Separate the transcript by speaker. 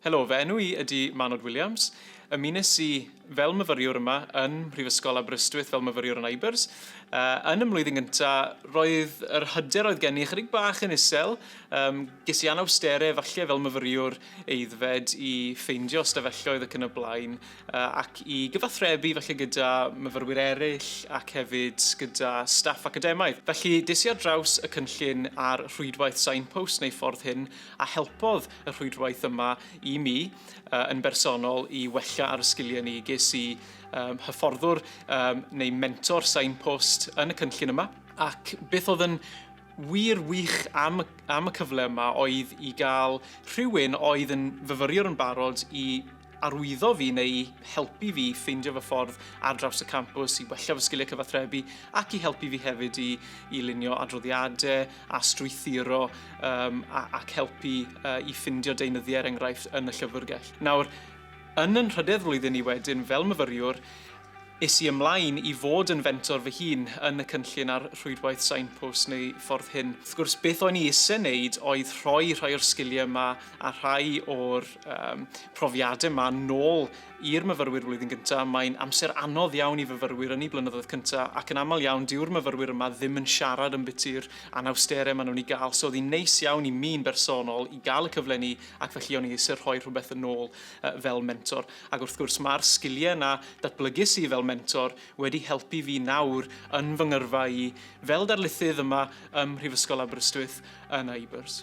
Speaker 1: Helo, fy enw i ydy Manod Williams. Ymunes i fel myfyriwr yma yn Mhrifysgol Aberystwyth fel myfyriwr yn IBERS. Yn y mlwyddyn gyntaf, roedd yr hyder oedd gen i ychydig bach yn isel. Um, ges i anawstere, falle fel myfyriwr eiddfed, i ffeindio ystafelloedd ac yn y blaen, ac i gyfathrebu falle gyda myfyrwyr eraill ac hefyd gyda staff academaidd. Felly, des i ar draws y cynllun ar rhwydwaith Signpost neu Ffordd Hyn a helpodd y rhwydwaith yma i mi uh, yn bersonol i wella ar y sgiliau ni. Ges i um, hyfforddwr um, neu mentor signpost yn y cynllun yma ac beth oedd yn wir wych am, am y cyfle yma oedd i gael rhywun oedd yn fyfyriwr yn barod i arwyddo fi neu i helpu fi i ffeindio fy ffordd ar draws y campws, i wella fy sgiliau cyfathrebu ac i helpu fi hefyd i, i lunio adroddiadau a strwythuro um, a, ac helpu uh, i ffindio deunyddiau er enghraifft yn y llyfrgell. Nawr, yn yn rhydedd flwyddyn i wedyn fel myfyriwr, is i ymlaen i fod yn fentor fy hun yn y cynllun ar rhwydwaith Signpost neu Ffordd Hyn. Wrth gwrs, beth o'n i eisiau wneud oedd rhoi rhai o'r sgiliau yma a rhai o'r um, profiadau yma nôl i'r myfyrwyr flwyddyn gyntaf, mae'n amser anodd iawn i fyfyrwyr yn ei blynyddoedd cyntaf ac yn aml iawn diw'r myfyrwyr yma ddim yn siarad yn byty'r anawsterau maen nhw'n ei gael. So oedd hi'n neis iawn i mi'n bersonol i gael y cyfle ni ac felly o'n i eisiau rhoi rhywbeth yn ôl uh, fel mentor. Ac wrth gwrs mae'r sgiliau yna datblygis i fel mentor wedi helpu fi nawr yn fy ngyrfa i fel darlithydd yma ym Mhrifysgol Aberystwyth yn Ibers.